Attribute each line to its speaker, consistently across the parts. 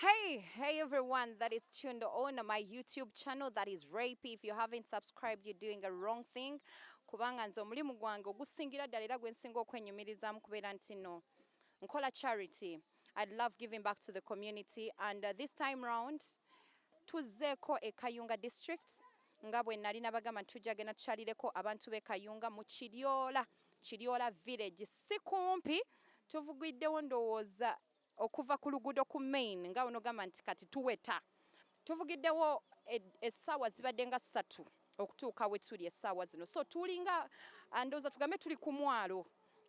Speaker 1: Hey, hey everyone that is tuned on my YouTube channel that is Rape. If you haven't subscribed, you're doing a wrong thing. Kubanga nze omulimu gwange ogusingira ddala era gwe nsinga okwenyumirizaamu kubeera nti no nkola charity. I'd love giving back to the community and uh, this time round tuzzeeko e Kayunga district nga bwe nali nabagamba nti tujja genda tukyalireko abantu b'e Kayunga mu Kiryola Kiryoola Village si kumpi. Tuvugiddewo ndowooza okuva ku luguudo ku main nga onogamba nti kati tuweta. Tuvugiddewo essaawa zibadde nga ssatu okutuuka we tuli essaawa zino. So tulinga ndowooza tugambe tuli ku mwalo.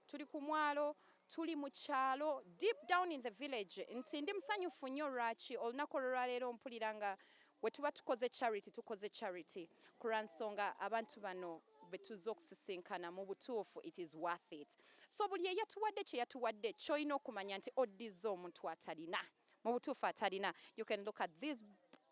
Speaker 1: Tuli ku mwalo, tuli mu kyalo deep down in the village. Nti ndi musanyufu nnyo lwaki olunaku olwaleero mpulira nga Wetuba tukoze charity tukoze charity kulwansonga abantu bano betuzze okusisinkana mubutuufu it is worth it so buli eyatuwadde kyeyatuwadde kyolina okumanya nti oddizza omuntu atalina mubutuufu atalina you can look at these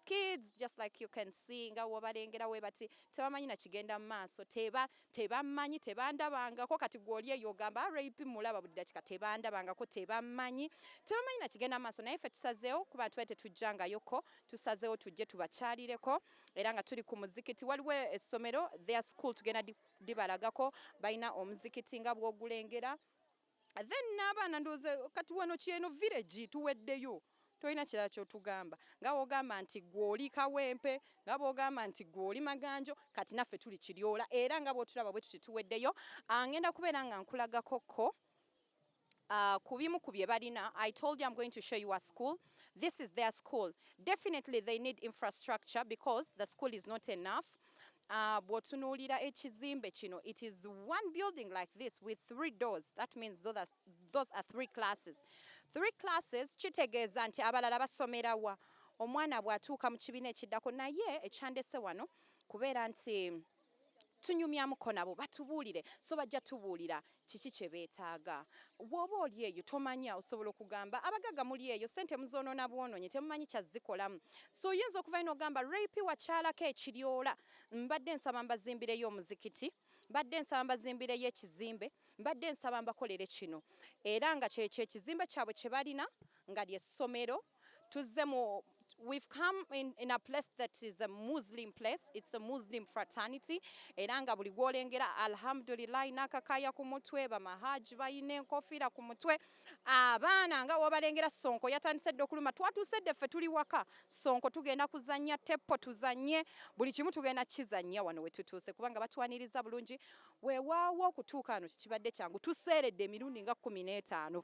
Speaker 1: kids just like you can see nga wobalengera webati tebamanyi nakigenda mumaaso teba tebammanyi tebandabangako kati gwoli eyo ogamba rip mulaba buli dakika tebandabangako tebammanyi tebammanyi nakigenda maaso naye ffe tusazeewo kuba tuba tetujjangayoko tusazeewo tujje tubakyalireko era nga tuli ku muzikiti waliwo essomero their school tugenda dibalagako balina omuzikiti nga bwogulengera then n'abaana ndowooza kati wano kyeno village tuweddeyo tolina kirala kyotugamba nga wogamba nti gwe oli kawempe nga bwogamba nti gwe oli maganjo kati naffe tuli kiryola era nga bwotulaba bwe tuti tuweddeyo ah, ngenda kubeera nga nkulagakokko Uh, ku bimu ku bye balina i told you i'm going to show you a school this is their school definitely they need infrastructure because the school is not enough Uh, bwotunuulira ekizimbe kino it is one building like this with three doors that means those are, those are three classes three classes kitegeeza nti abalala basomera wa omwana bw'atuuka mu kibiina ekiddako naye ekyandese wano kubeera nti tunyumyamuko nabo batubuulire so bajja tubuulira kiki kye beetaaga. Bw'oba oli eyo tomanya, osobola okugamba abagagga muli eyo, ssente muzoonoona bwonoonyi temumanyi kyazikolamu. So oyinza okuvayo n'ogamba Rayp wakyalako e Kiryoola, mbadde nsaba mbazimbireyo omuzikiti, mbadde nsaba mbazimbireyo ekizimbe, mbadde nsaba mbakolere kino. Era nga ky'ekyo ekizimbe kyabwe kye balina nga ly'essomero. tuzze mu we've come in, in a place that is a Muslim place it's a Muslim fraternity era nga buli gwolengera alhamdulillah nakakaya ku mutwe bamahaji bayina enkofiira ku mutwe abaana nga wobalengera sonko yatandise dde okuluma twatuuse dde ffe tuli waka sonko tugenda kuzanya teppo tuzanye buli kimu tugenda kizanya wano wetutuuse kubanga batwaniriza bulungi wewaawo okutuuka ano kikibadde kyangu tuseeredde emirundi nga kumi n'etaano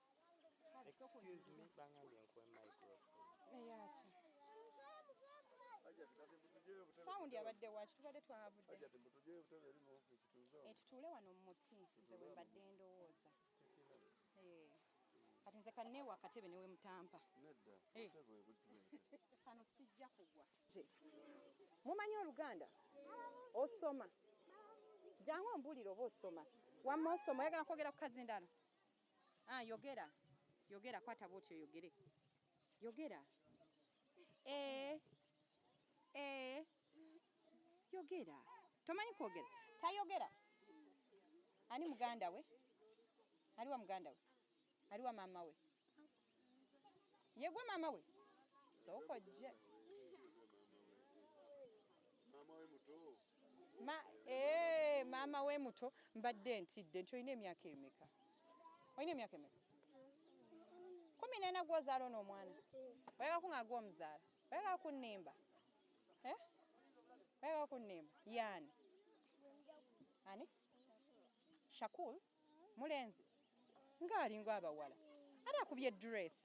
Speaker 2: Excuse me, bangambye nkuwe microphone. Eyaki?
Speaker 1: Sound yabadde waki tubadde twavudde. Ajati mutuje obutebe eri mu office tuzo. Eh tutuule wano mu muti nze we mbadde ndowooza. Eh. Kati nze kanne wa katebe newe mutampa. Nedda. Eh. Obutebe obutebe. Kano sijja kugwa. Mumanyi oluganda? Osoma. Jangu ombulire oba osoma. Wamma osoma oyagala kwogera ku kazi ndala. Ah yogera. Yogera kwata bwoti oyogere. Yogera. Eh. Eh. Yogera. Tomanyi kwogera. Tayogera. Ani muganda we? Aliwa muganda we? Aliwa mama we? yegwe mama we sokojje
Speaker 2: Ma, ee, eh,
Speaker 1: mama we muto mbadde ntidde nti olina emyaka emeka olina emyaka emeka kumi nena gwozaala ono omwana oyagala kunga gwomuzaala oyagala kunimba eh? oyagala kunimba yani ani shakul mulenzi nga alinga abawala ate akubye dress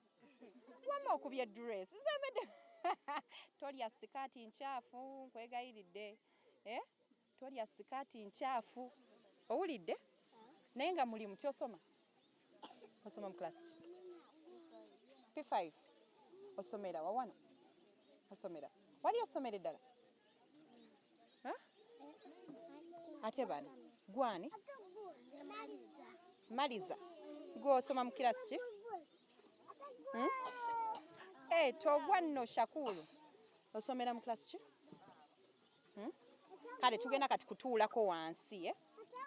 Speaker 1: wama okubye dress zembedde tolya sikaati nkyafu nkwegayiridde eh? tolya sikaati nkyafu owulidde naye nga mulimu tyosoma osoma mu class p5 osomera wawano osomera wali osomera eddala ate bano gwani maliza gwosoma mukirasi ki hmm? hey, eh, togwa nno shakulu osomera mukirasi ki hmm? kale tugenda kati kutuulako wansi eh?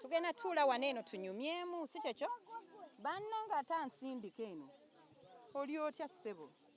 Speaker 1: tugenda tuula wano eno tunyumyemu si kyekyo banna nga ate ansindika eno oli otya ssebo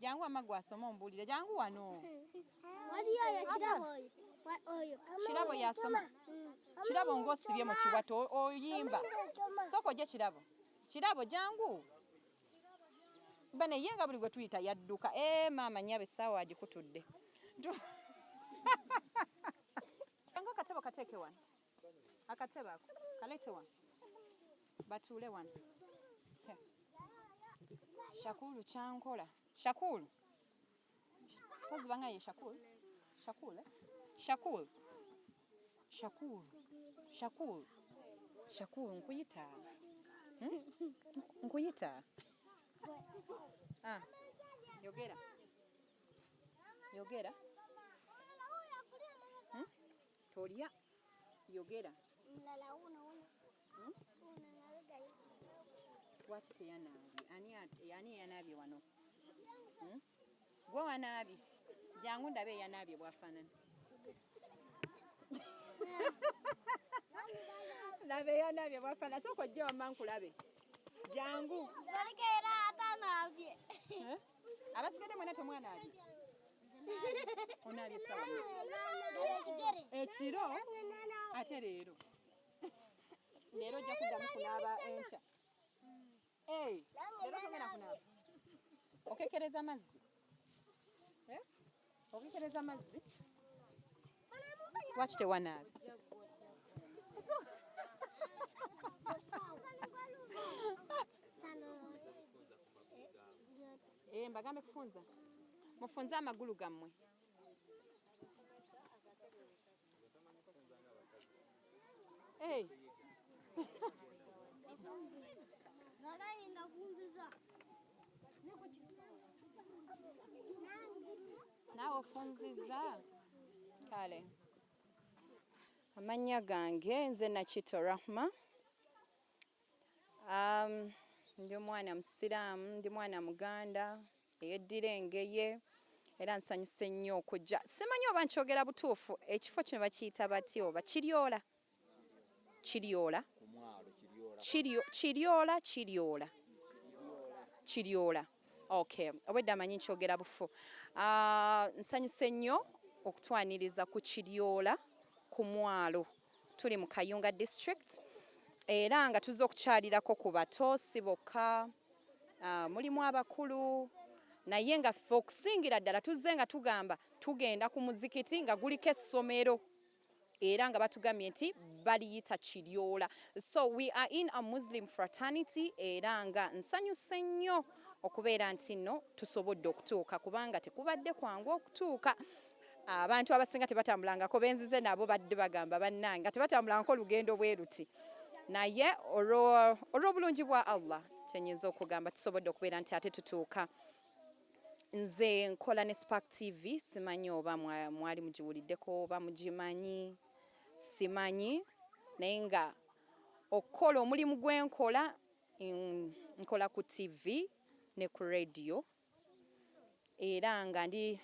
Speaker 1: Jangu wamma gwe asoma omubuulire. Jangu wano. Waliyo oyo kirabo oyo. Wa- Oyo. Kirabo yasoma. Kirabo ng'osibye mu kiwato o- oyimba. Sooka ogye kirabo. Kirabo jangu. Bano ye nga buli gwe tuyita yadduka. Ee maama nnyabo essaawa agikutudde. Tu- Jangu akatabo kateeke wano. akatebe ako kalete wano batuule wano shakulu kyankola shakulu kozi banga ye shakulu shakule eh? shakulu shakulu shakulu shakulu nkuyita hmm? nkuyita ah. yogera yogera Tolya yogera. Mulala uno uno. Hmm? Uno nalga hivi. Wati teyanaabye. Ani ani yanaabye wano? Hmm? Gwe wanaabye. Jangu ndabe yanaabye bwafanana. Labe yanaabye bwafanana. Soko jjo wamma nkulabe. Jangu. Balika era atanaabye. Eh? abasigadde mwena temwana ali onaabye sawa ekiro ate leero leero ojja kuddamu kunaaba enkya leero togenda kunaaba okekereza amazzi eh? Obikebeza amazzi lwaki tewanaaba eh, mbagambe kufunza mufunze amagulu gammwe Hey. naawe ofunzizza kale amannya gange nze nakito rahma Um, ndi omwana musiraamu ndi mwana muganda eyeddira engeye era nsanyuse nnyo okujja simanyi oba nkyogera butuufu ekifo kino bakiyita bati oba kiryola kiryola kiryola kiryola kiryola okay obwedda amanyi nkyogera bufu ah, nsanyuse nnyo okutwaniriza ku kiryola ku mwalo tuli mu Kayunga district era nga tuzze okukyalirako ku bato si bokka ah, mulimu abakulu naye nga ffe okusingira ddala tuzze nga tugamba tugenda ku muzikiti nga guliko essomero era nga batugambye nti baliyita kiryola so we are in a muslim fraternity era nga nsanyuse nnyo okubeera nti nno tusobodde okutuuka kubanga tekubadde kwangu okutuuka abantu abasinga tebatambulangako benzize nabo badde bagamba bannange nga tebatambulangako olugendo bweruti naye olw'obulungi bwa allah kyenyinza okugamba tusobodde okubeera nti ate tutuuka nze nkola ne spark tv simanyi oba mwali mugiwuliddeko oba mugimanyi simanyi naye nga okukola omulimu gwenkola nkola ku tv ne ku radio era nga ndi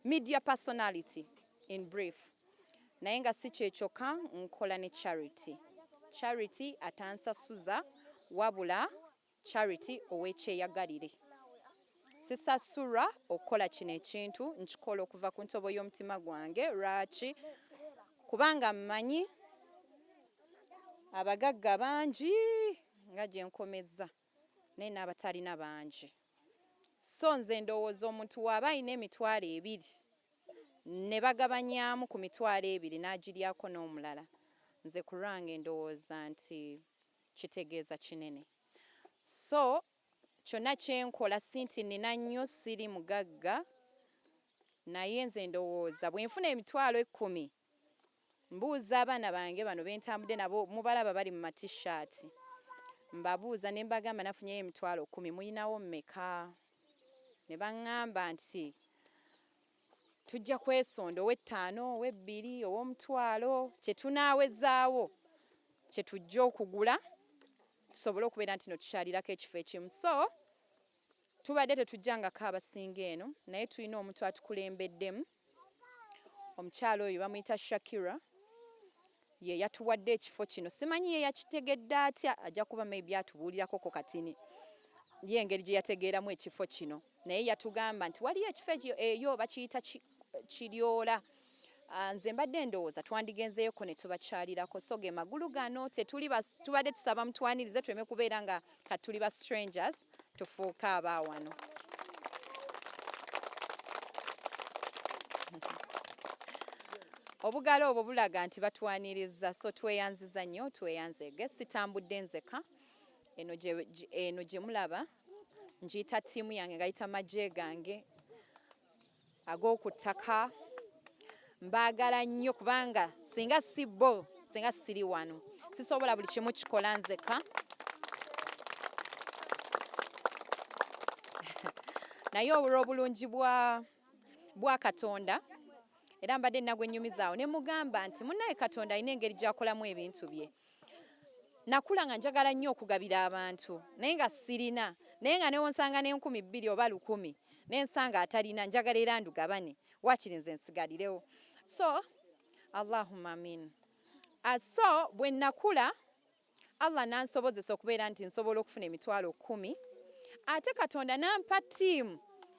Speaker 1: media personality in brief naye nga si kyekyokka nkola ne charity charity atansasuza wabula charity owekyeyagalire sisasulwa okukola kino ekintu nkikola okuva ku ntobo y'omutima gwange lwaki kubanga mmanyi abagagga bangi nga gyenkomezza naye n'abatalina bangi so nze ndowooza omuntu waaba alina emitwalo ebiri ne bagabanyaamu ku mitwalo ebiri n'agiryako n'omulala nze ku lwange ndowooza nti kitegeeza kinene so kyonna kye nkola si nti nnina nnyo siri mugagga naye nze ndowooza bwe nfuna emitwalo ekkumi mbuuza abaana bange bano bentambudde nabo mubalaba bali mu matishaati mbabuuza ne mbagamba nafunyeyo emitwalo kumi muyinawo mmeka ne baŋŋamba nti tujja kwesonda ow'ettaano ow'ebbiri ow'omutwalo kye tunaawezaawo kye tujja okugula tusobole okubeera nti no tukyalirako ekifo ekimu so tubadde tetujjangako abasinga eno naye tulina omuntu atukulembeddemu omukyala oyo bamuyita Shakira ye yatuwadde ekifo kino simanyi ye yakitegedde atya ajja kuba maybe atubuulirako ko katini ye engeri gye yategeeramu ekifo kino naye yatugamba nti waliyo ekifo eyo bakiyita kiryola ah, nze mbadde ndowooza twandigenzeyoko ne tubakyalirako so ge magulu gano tetuli tubadde tusaba mutwanirize tuleme kubeera nga kati tuli ba strangers tufuuka aba wano obugalo obwo bulaga nti batwaniriza so tweyanziza nnyo tweyanzege sitambudde nzeka eno gye mulaba ngiyita ttiimu yange ngayita magye gange ag'oku ttaka mbaagala nnyo kubanga singa si bo singa siri wano sisobola buli kimu kikola nzeka naye olw'obulungi bwa katonda era mbadde nagwe nyumizaawo ne mugamba nti munaye katonda alina engeri gyakolamu ebintu bye nakula nga njagala nnyo okugabira abantu naye nga sirina naye nga newonsanga n'enkumi bbiri oba lukumi nensanga atalina njagala era ndugabane wakiri nze nsigalirewo so allahuma amin ah, so bwe nakula allah nansobozesa okubeera nti nsobola okufuna emitwalo kumi ate katonda nampa tiimu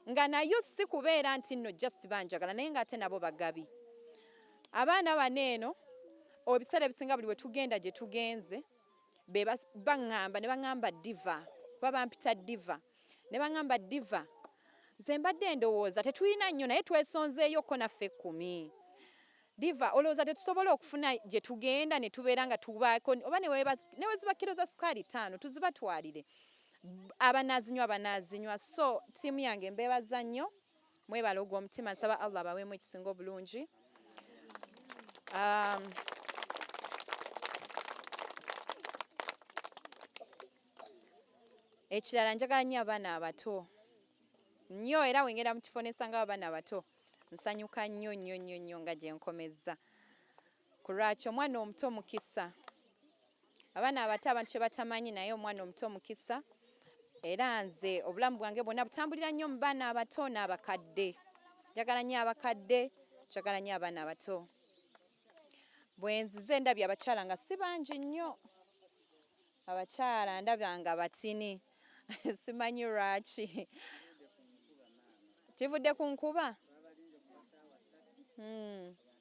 Speaker 1: nga nayo si kubeera nti nno just banjagala naye nga ate nabo bagabi abaana bano eno obiseera ebisinga buli wetugenda gye tugenze bebaŋŋamba ne baŋŋamba diva kuba bampita diva ne baŋŋamba diva nze mbadde ndowooza tetulina nnyo naye twesonzeeyo ko naffe ekkumi diva olowooza tetusobola okufuna gye tugenda ne tubeera nga tubaako oba neweziba kiro za sukaali ttaano tuzibatwalire abanaazinywa banaazinywa so ttiimu yange mbeebaza nnyo mwebale ogwo omutima nsaba allah abaweemu ekisinga obulungi um, ekirala njagala nnyo abaana abato nnyo era wengenda mu kifo nesanga abaana abato nsanyuka nnyo nnyo nnyo nnyo nga gyenkomezza Kulwaki omwana omuto mukisa. Abaana abato abantu kye batamanyi naye omwana omuto mukisa era nze obulamu bwange bwonna butambulira nnyo mu baana abato n'abakadde. Njagala nnyo abakadde, njagala nnyo abaana abato. Bwe nzize ndabye abakyala nga si bangi nnyo. Abakyala ndabya nga batini simanyi lwaki. Kivudde ku nkuba? Hmm.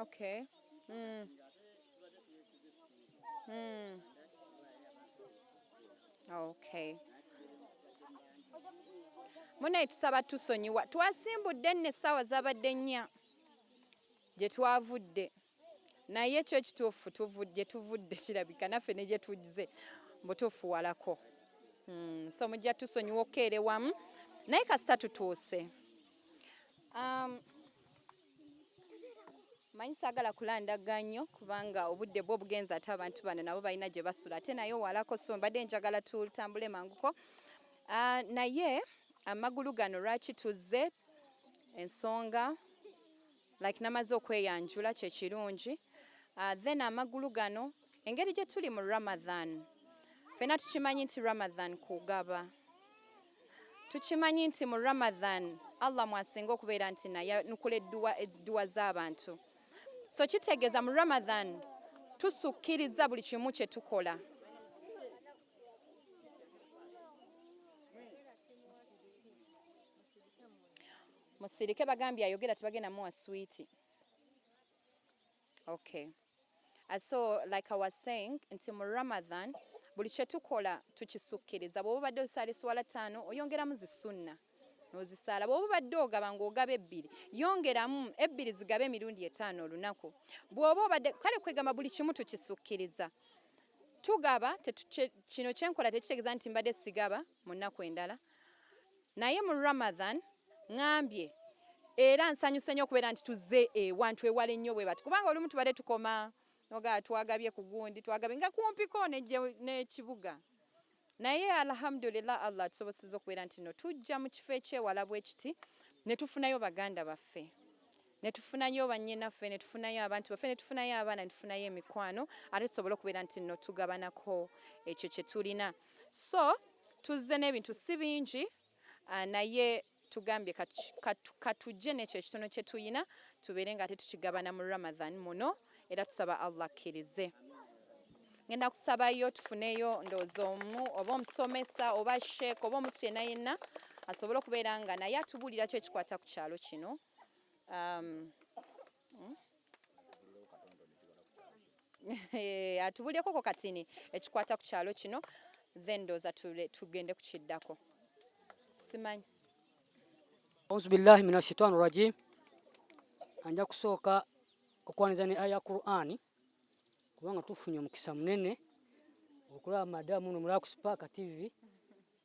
Speaker 1: okay mm. Mm. okay munaye tusaba tusonyiwa twasimbudde nno essaawa zabadde nnya gye twavudde naye kyo ekituufu gye tuvudde kirabika naffe ne gye tujze mbutuufuwalako hmm, so mujja tusonyiwa okukeere wamu naye kasita tutuuse um, manyi saagala kulandaga nnyo kubanga obudde bwo obugenza ate abantu bano nabo balina gye basula ate naye owalako so mbadde njagala tutambule manguko ah, naye amagulu gano lwaki tuzze ensonga like namaze okweyanjula kyekirungi uh, then amagulu gano engeri gye tuli mu ramadhan fena tukimanyi nti ramadhan kugaba tukimanyi nti mu ramadhan allah mwasinga okubeera nti naye nukula edduwa z'abantu so kitegeeza mu ramadhan tusukkiriza buli kimu kye tukola Musirike bagambye ayogera tebagenda muwa sweet. Okay. Uh, so like I was saying nti mu Ramadan buli kye tukola tukisukkiriza bwoba obadde osaala esswala ttaano oyongeramu zisunna nozisaala bwoba obadde ogaba ngaogaba ebbiri yongeramu ebbiri zigabe emirundi etaano olunaku bwoba obadde kale kwegamba buli kimu tukisukkiriza tugaba kino kyenkola tekitegeeza nti mbadde sigaba mu nnaku endala naye mu Ramadhan ngambye era nsanyuse nnyo okubeera nti tuzze ewantu ewala ennyo bwe bati kubanga olumu tubadde tukoma noga twagabye ku gundi twagabye nga kumpiko n'ekibuga naye alhamdulillah allah atusoboseza okubeera nti no tujja mu kifo ekyewala bwekiti ne tufunayo baganda baffe ne tufunayo bannyinaffe ne tufunayo abantu baffe ne tufunayo abaana ne tufunayo emikwano ate tusobole okubeera nti no tugabanako ekyo kye tulina so tuzze n'ebintu si bingi ah, naye tugambye katujje n'ekyo ekitono kye tulina tubeere nga ate tukigabana mu ramadhan muno era tusaba allah akkirize ngenda kusabayo tufuneyo ndowooza omu oba omusomesa oba sheek oba omuntu yenna yenna asobole okubeera nga naye atubuulira ki ekikwata ku kyalo kino um, hmm? Eh, atubulyekoko katini ekikwata ku kyalo kino then ndooza tugende ku kiddako simanyi
Speaker 3: auzubillahi min ashaitan rajim anja kusooka okwaniza ne aya qurani kubanga tufunye omukisa munene okulaba madamu no mulaku spark tv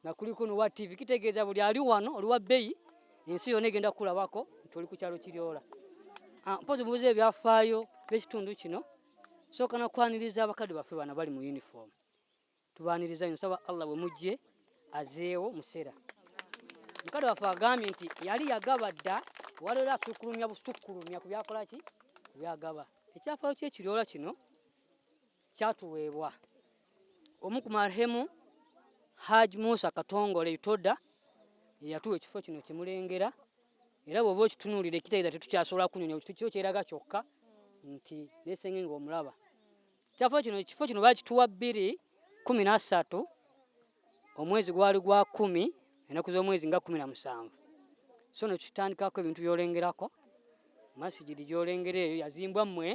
Speaker 3: nga kuli kuno wa TV kitegeeza buli ali wano oli wa bbeyi ensi yona egenda kukulabako nti oli ku kyalo kiryola ah, mpozi mubuza ebyafaayo byekitundu kino sooka nakwaniriza abakadde baffe bana bali mu uniform tubaniriza nyo nsaba allah bwe mujje azeewo museera mukadde waffe agambye nti yali yagaba dda waliwo asukulumya busukulumya ku byakolaki byagaba ekyafaayo kyekiryoola kino kyatuweebwa omu ku marhemu Haji Musa Katongole Itoda yeyatuwa ekifo kino kimulengera era bwoba okitunuulira ekitegeeza tetukyasobola kunyonya kyo kyeraga kyokka nti nesenge nga omulaba kyafo kino ekifo kino bakituwa bbiri kumi na ssatu omwezi gwali gwa kumi enaku z'omwezi nga kumi na musanvu so no kitandikako ebintu byolengerako masigidi gyolengera eyo yazimbwa mmwe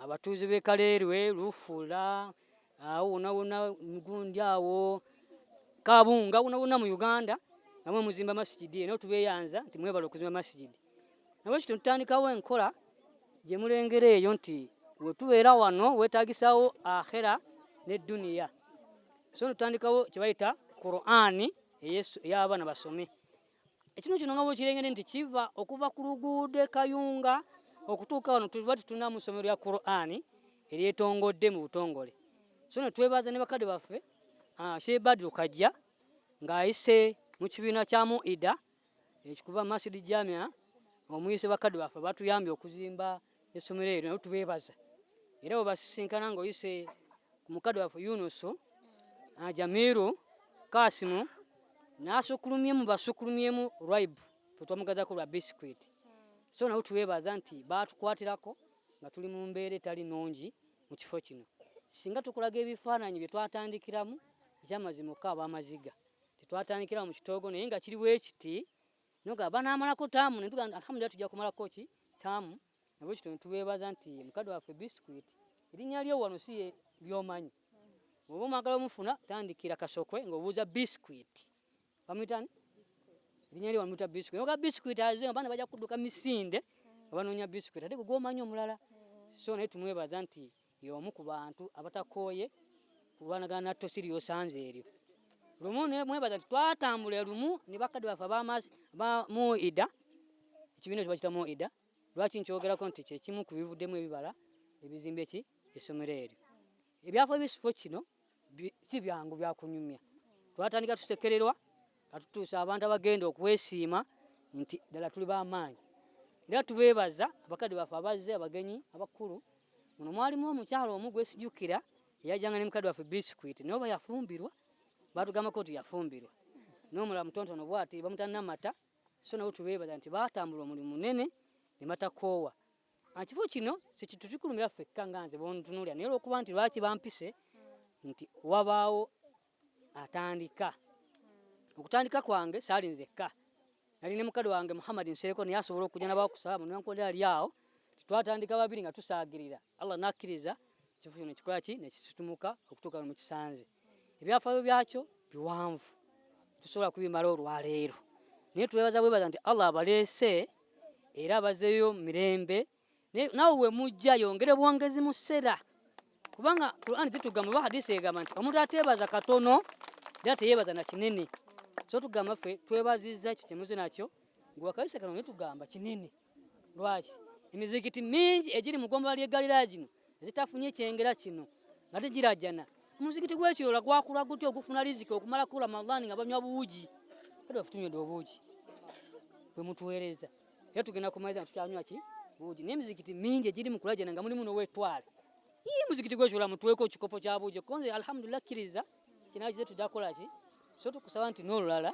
Speaker 3: abatuuzi b'e kaleerwe lufuula awo wonawona mugundi awo kabunga wonawona mu uganda namwe muzimba masigidi eyo nawe tubeyanza nti mwebala okuzimba masigidi nabwe kityo ntandikawo enkola gye mulengera eyo nti wetubeera wano wetagisawo akhera ne duniya so notandikawo kyebayita qurani ey'abaana basome ekinu kino nga bwekirengede nti kiva okuva ku luguudo ekayunga okutuuka wano tuba tutunamu ssomero lya qurani eryetongodde mu butongole so ne twebaza ne bakadde baffe ah, shebadi okajja ng'ayise mu kibiina kya muida ekikuva mu masidi jamia omuyise bakadde baffe batuyambye okuzimba essomero eryo nayo tubeebaza era webasisinkana ngaoyise ku mukadde waffe yunusu ah, jamiru kasimu nasukulumye mu basukulumyemu ribe twetwamugazako lwa biscuit so nawe tuwebaza nti batukwatirako nga tuli mu mbeera etali nungi mu kifo kino singa tukulaga ebifaananyi bye twatandikiramu ekyamazima oka abamaziga tetwatandikira mu kitoogo naye nga kiri bwekiti noga banaamalako taamu netuga alhamdulillah tujja kumalako ki taamu nabwe kityo netubeebaza nti mukadde waffe biscuit erinnya lyo wano si lyomanyi oba omwagala omufuna tandikira kasokwe ngaobuuza biscuit bamuyitani erinnya lyo wamuyita biscuit noga biscuit aze abaana bajja kudduka misinde abanoonya biscuit ate gwe gwomanyi omulala so naye tumwebaza nti Y'omu ku bantu abatakooye kulwanagana na ttosi ly'osanze eryo. Lumu ne mwebaza nti twatambula lumu ne bakadde baffe ab'amaazi ba Muida, ekibiina ekyo bakiyita Muida. Lwaki nkyogerako nti kye kimu ku bivuddemu ebibala ebizimba eki essomero eryo. Ebyafo ebisifo kino si byangu byakunyumya twatandika tusekererwa katutuusa abantu abagenda okwesiima nti ddala tuli bamaanyi era tubeebaza abakadde baffe abazze abagenyi abakulu muno mwalimu omukyalo omu gwesijukira eyajanga ne mukadde waffe bisikwiti naye oba yafumbirwa batugambako nti yafumbirwa nomulala mutontono bwati bamutanamata so nabo tubeebaza nti batambula omulimu munene ne batakoowa Ekifo kino kitutukulumira ffekka nga nze bwontunuulira naye olwokuba nti lwaki bampise nti wabaawo atandika okutandika kwange saali nzekka nali ne mukadde wange Muhammad Nsereko naye asobola okujja nabawo kusala mu nwankonde ali awo twatandika babiri nga tusaagirira Allah nakkiriza ekifo kino nekikola ki nekisitumuka okutuuka mu kisanze ebyafaayo byakyo biwanvu tusobola kubimala olwaleero naye twebaza bwebaza nti Allah abaleese era bazeeyo mirembe nawe wemujja yongere bwongezi mu ssera kubanga quran zitugamba oba hadisi egamba nti omuntu ateebaza katono era teyeebaza na kinene so tugamba ffe twebazizza ekyo kyemuze nakyo ngewakayise kano netugamba kinene lwaki emizikiti mingi egiri mu gombala ly'eggalira gino ezitafunye kyengera kino nga tegirajana omuzikiti gwekiroola gwakula gutya ogufuna riziki okumala ku ramadhan nga banywa buugi era tutunywedde obuugi bwe mutuweereza era tugenda kumaliza tukyanywa ki buugi naye emizikiti mingi egiri mu kulajana nga mulimu n'owetwale ii muzikiti gwekiroola mutuweeko ekikopo kya buugi konze alhamdulillah kkiriza kinaa kize tudakola ki so tukusaba nti n'olulala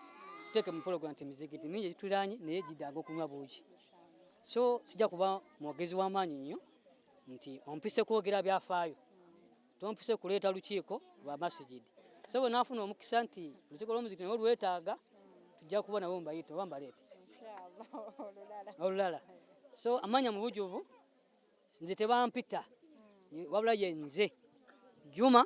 Speaker 3: tuteeke mu pologram nti emizikiti mingi egituliranye naye gidaaga okunywa buugi so sijja kuba mwogezi w'amaanyi nnyo nti ompise kwogera byafaayo tompise kuleeta lukiiko lwa masigidi so bwe naafuna omukisa nti olukiiko lw'omuzikiti nabo lwetaaga tujja kuba nabo mbayita oba mbaleete olulala so amanya mu bujuvu nze tebampita wabula ye nze juma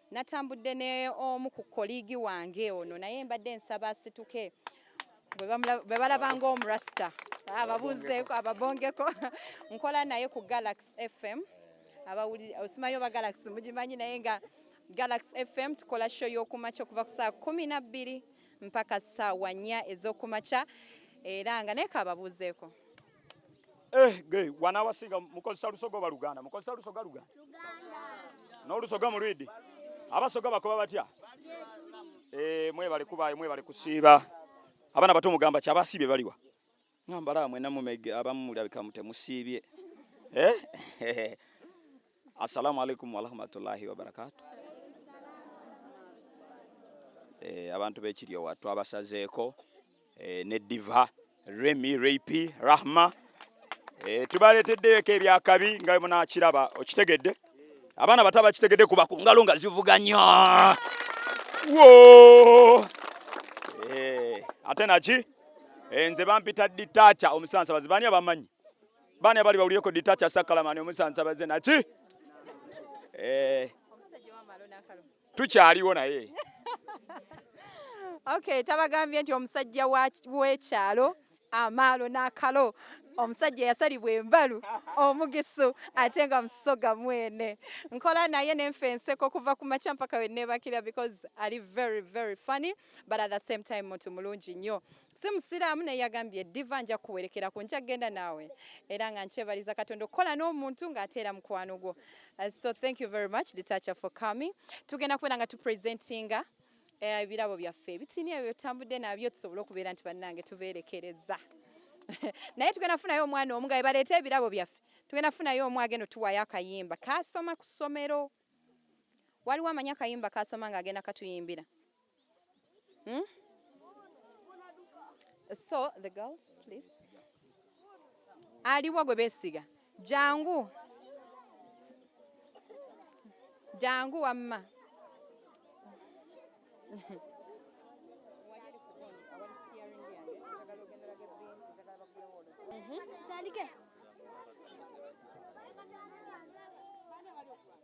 Speaker 1: Natambudde ne omu ku koligi wange ono naye mbadde nsaba asituke bwe balaba ng'omurasita ababuuzeeko ababongeko nkola naye ku Galaxy FM abawuli osimayo ba Galaxy mugimanyi naye nga Galaxy FM tukola show y'okumakya okuva ku saa kumi na bbiri mpaka saawa nnya ez'okumakya era nga naye kaababuuzeeko
Speaker 4: Eh, ge wana wasinga mukozesa lusoga oba luganda mukozesa lusoga luganda n'olusoga mulwidi abasoga bakoba batya eh, mwebale kubaayo mwebale kusiiba abaana bato mugamba ki abasiibye baliwa ngambala mwena mumege abamu mulabika mutemusiibye eh? assalamu alaikum warahmatullahi wabarakatu eh, abantu bekiryowa twabasazeeko eh, ne diva remi rapi rahma eh, tubaleeteddeyoko ebyakabi nga munakiraba okitegedde abaana bato abakitegedde kuba ku ngalo nga zivuga nnyo eh, ate naki eh, nze bampita ditacha omusansabazi bani abamanyi bani abali bawulireko ditacha sakalamani omusansabaze naki eh, tukyaliwo naye
Speaker 1: okay tabagambye nti omusajja w'ekyalo amaalo n'akalo omusajja yasalibwa embalu omugisu ate nga musoga mwene nkola naye nenfa enseko okuva ku makya mpaka wenebakira because ali very very funny but at the same time muntu mulungi nnyo si musiraamu naye yagambye diva nja kuwerekera ku nja kugenda naawe era nga nkyebaliza katonda okukola n'omuntu ng'ateera mukwano gwo Uh, so thank you very much Detacha for coming. Tugenda kubera nga tu presentinga eh, ebirabo uh, byaffe ebitini ebyo tambudde nabyo tusobole okubeera nti bannange tubeerekereza naye tugenda funayo omwana omu nga bebaleeta ebirabo byaffe tugenda funayo omu agenda otuwayo akayimba kasoma ku ssomero waliwo amanyi akayimba kasoma nga agenda katuyimbira Hmm? So the girls please. Aliwa gwe besiga. Jangu. Jangu wamma.
Speaker 5: Tutandike.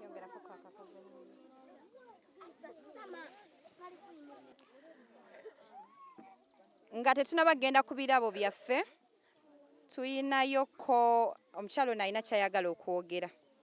Speaker 1: yongerako kakakaze nga tetunaba kugenda ku birabo byaffe tuyinayoko omukyalo ono alina kyayagala okwogera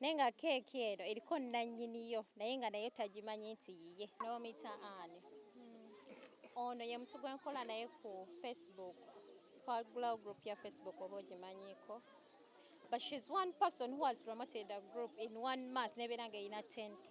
Speaker 6: naye nga keeki eno eriko nnannyiniyo naye nga nayo tagimanyi nti yiye nomita ani hmm. ono ye mutu gwenkola naye ku facebook kwagulawo group ya facebook oba ogimanyiko but shes one person who has promoted a group in one month nebeera nga erina 10 k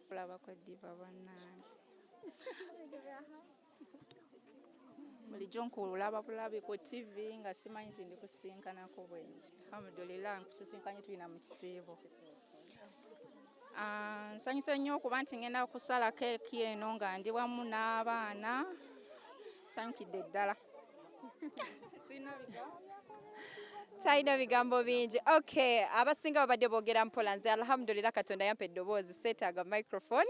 Speaker 6: kulaba kwe
Speaker 7: diva bannange bulijjo nkulaba bulabi ku tv nga simanyi nti ndikusinkanako bwengi alhamdulillah nkusisinkanye tulina mu kisiibo ah, nsanyuse nnyo okuba nti ngenda kusala keeki eno nga ndi wamu n'abaana sanyukidde ddala
Speaker 1: talina bigambo bingi okay abasinga babadde boogera mpola nze alhamdulillah katonda yampa eddoboozi seetaaga microphone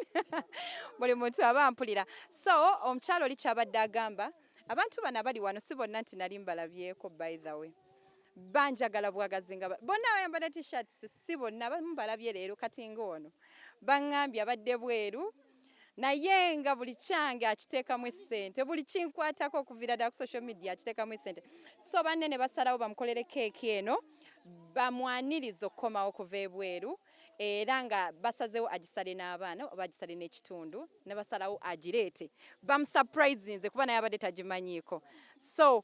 Speaker 1: buli muntu aba ampulira so omukyalo oli kyabadde agamba abantu bano abali wano si bonna nti nali mbalabyeko by the way banjagala bwagazi nga bonna abayambala t-shirts si bonna bamu balabye leero kati ng'ono baŋŋambye abadde bweru naye nga buli kyange akiteekamu essente buli kinkwatako okuviira ddala ku social media akiteekamu essente so banne ne basalawo bamukolere keeki eno bamwaniriza okukomawo okuva ebweru era nga basazewo agisale n'abaana oba agisale n'ekitundu ne basalawo agireete bamusapulizinze kuba naye abadde tagimanyiiko so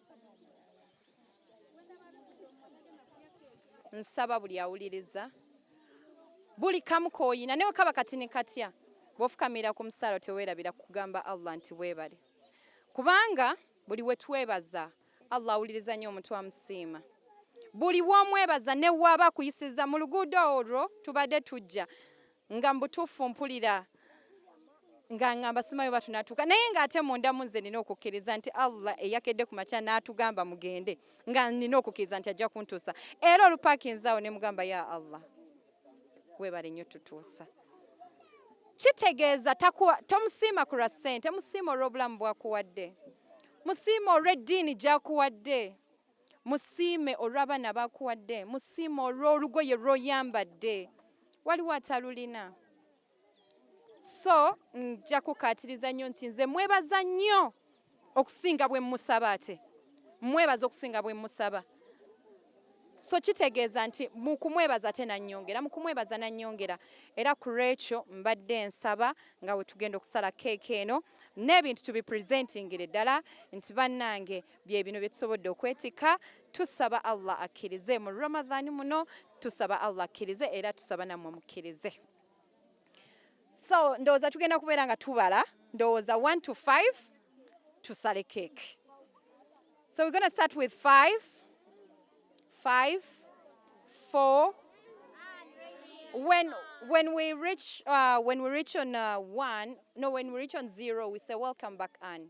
Speaker 1: nsaba buli awuliriza buli kamu koyina newe kaba kati ni katya bwofukamira ku musaala tewerabira kugamba allah nti webale kubanga buli wetwebaza allah awuliriza nnyo omuntu amusiima buli womwebaza newaba akuyisiza mu luguudo olwo tubadde tujja nga mbutuufu mpulira nga ngamba simayo batu natuka naye nga ate munda munze nina okukiriza nti Allah eyakedde ku makya natugamba mugende nga nina okukiriza nti ajja kuntusa era olupakinzawo ne mugamba ya Allah webale nyo tutusa kitegeeza takuwa tomusiima ku lwa ssente musiima olw'obulamu bwakuwadde musiima olw'eddiini gyakuwadde musiime olw'abaana bakuwadde musiime olw'olugoye lw'oyambadde waliwo atalulina so nja kukaatiriza nnyo nti nze mwebaza nnyo okusinga bwe musaba ate mwebaza okusinga bwe musaba so kitegeeza nti mu kumwebaza ate nannyongera mu kumwebaza nannyongera era ku lwekyo mbadde nsaba nga we tugenda okusala keeka eno n'ebintu tubipresentingire ddala nti bannange bye bino bye tusobodde okwetikka tusaba allah akkirize mu ramadhani muno tusaba allah akkirize era tusaba nammwe mukkirize so ndowooza tugenda kubeera nga tubala ndowooza 1 to 5 tusale cake so we're gonna start with 5 5 4 when when we reach uh, when we reach on uh, one no when we reach on zero we say welcome back Anne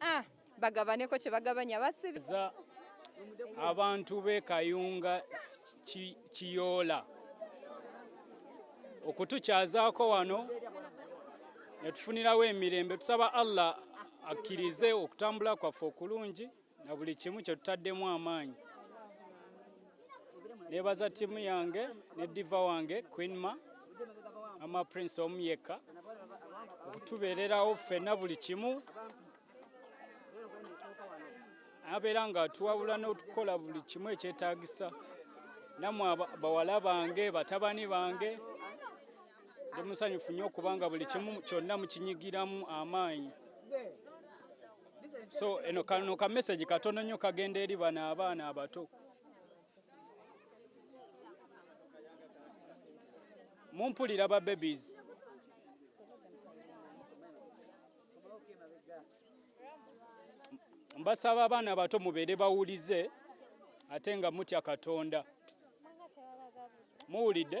Speaker 1: Ah, bagabaneko kye bagabanya basibi
Speaker 2: abantu be kayunga kiyoola okutukyazaako wano netufunirawo emirembe tusaba allah akkirize okutambula kwaffe okulungi na buli kimu kyetutaddemu amaanyi nebaza tiimu yange ne diva wange queenma ama prince omu yekka okutubeererawo ffenna buli kimu abeera nga atuwabula n'okukola buli kimu ekyetaagisa namwe bawala bange batabani bange ndi musanyufu nnyo okubanga buli kimu kyonna mukinyigiramu amaanyi so eno kano ka message katono nnyo kagenda eri bano abaana abato mumpulira ba babies mbasaba abaana abato mubeere bawulize ate nga mutya katonda muwulidde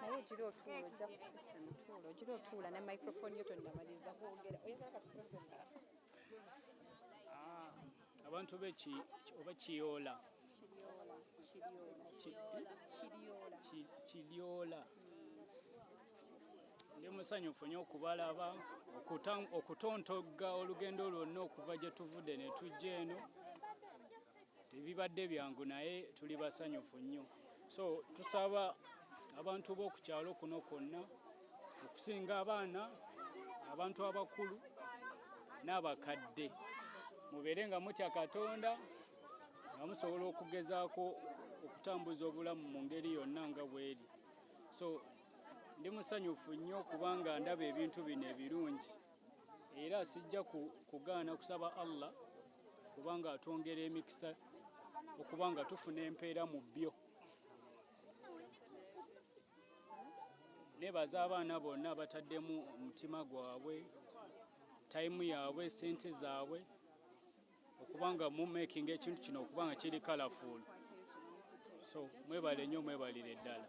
Speaker 1: naye ogira otuula ojja kufusa mutuula ogira otuula ne microphone yo tonnamaliriza kwogera oyagala katukozesa
Speaker 2: ah, abantu beki oba kiyoola kiyoola ndi musanyufu nyo okubalaba okutontogga olugendo lwonna okuva gye tuvudde ne tujja eno Tebibadde byangu naye tuli basanyufu nnyo, so tusaba abantu b'oku kyalo kuno kwonna okusinga abaana, abantu abakulu n'abakadde mubeere nga mutya Katonda nga musobola okugezaako okutambuza obulamu mu ngeri yonna nga bweri so ndi musanyufu nnyo kubanga ndaba ebintu bino ebirungi era sijja kugaana kusaba Allah kubanga atwongera emikisa okuba nga tufuna empeera mu byo nebaza abaana bonna bataddemu omutima gwabwe tayimu yaabwe sente zaabwe okuba nga mumakinga ekintu kino okuba nga kiri kalafuulu so mwebale nnyo mwebalire ddala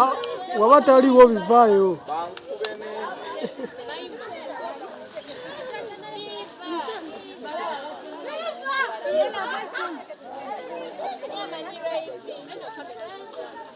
Speaker 8: Ah, waba taliwo bivaayo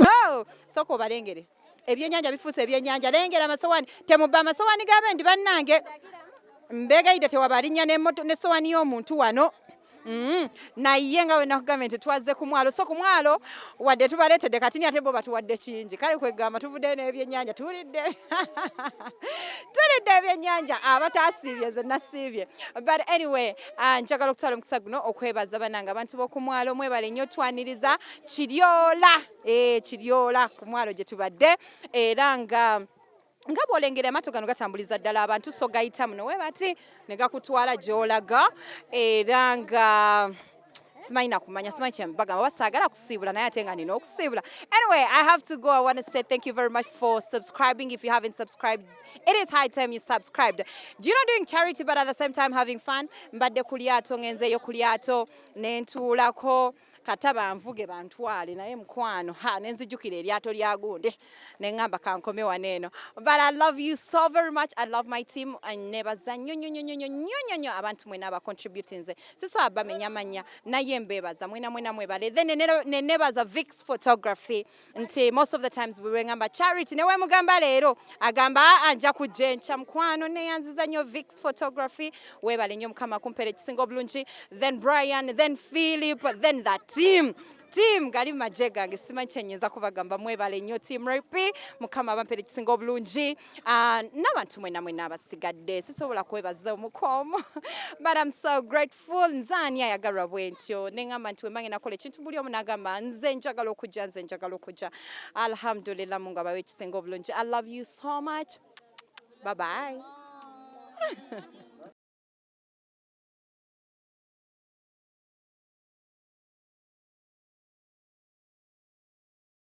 Speaker 1: Oh, soko balengere ebyenyanja bifuuse ebyenyanja lengera amasowani temubba amasowani g'abendi bannange mbeegayidde tewaba alinnya n'esowani y'omuntu wano Mm, naye nga wenakugambye nti twaze ku mwalo so ku mwalo wadde tubaleetedde kati ni ate bo batuwadde kingi kale kwegamba tuvuddeyo n'ebyennyanja tulidde tulidde ebyennyanja abatasiibye ze nasiibye but anyway uh, njagala okutwala omukisa guno okwebaza banange abantu b'oku mwalo mwebale nnyo twaniriza kiryola e eh, kiryola ku mwalo gye tubadde era nga nga bwolengera amaato gano gatambuliza ddala abantu so gayita muno we bati ne gakutwala gy'olaga era nga simanyi nakumanya simanyi kyembagamba oba saagala kusiibula naye ate nga nina okusiibula anyway i have to go i want to say thank you very much for subscribing if you haven't subscribed it is high time you subscribed do you know doing charity but at the same time having fun mbadde ku lyato ngenzeeyo ku lyato nentuulako kata banvuge bantwale naye mukwano ha nenzijukira eryato lya gunde nengamba kankome wano eno but i love you so very much i love my team nebaza nnyo nnyo nnyo nnyo nnyo nnyo abantu mwena aba contributing ze sisobola bamenya manya naye mbebaza mwena mwena mwebale then nenebaza vix photography nti most of the times bwe ngamba charity ne wemugamba leero agamba aa ah, ah, nja kujja enkya mukwano neyanziza nnyo vix photography webale nnyo mukama kumpera ekisinga obulungi then brian then philip then the team team gali maje gange simanyi kyenyinza kubagamba mwebale nnyo team rp mukama abampera ekisinga obulungi Uh, n'abantu mwena mwena abasigadde sisobola kwebaza omukwomu but am so grateful nze ani ayagalwa bwentyo neŋamba nti wembange nakola ekintu buli omu nagamba nze njagala okujja nze njagala okujja alhamdulillah mungu abawe ekisinga obulungi i love you so much bye bye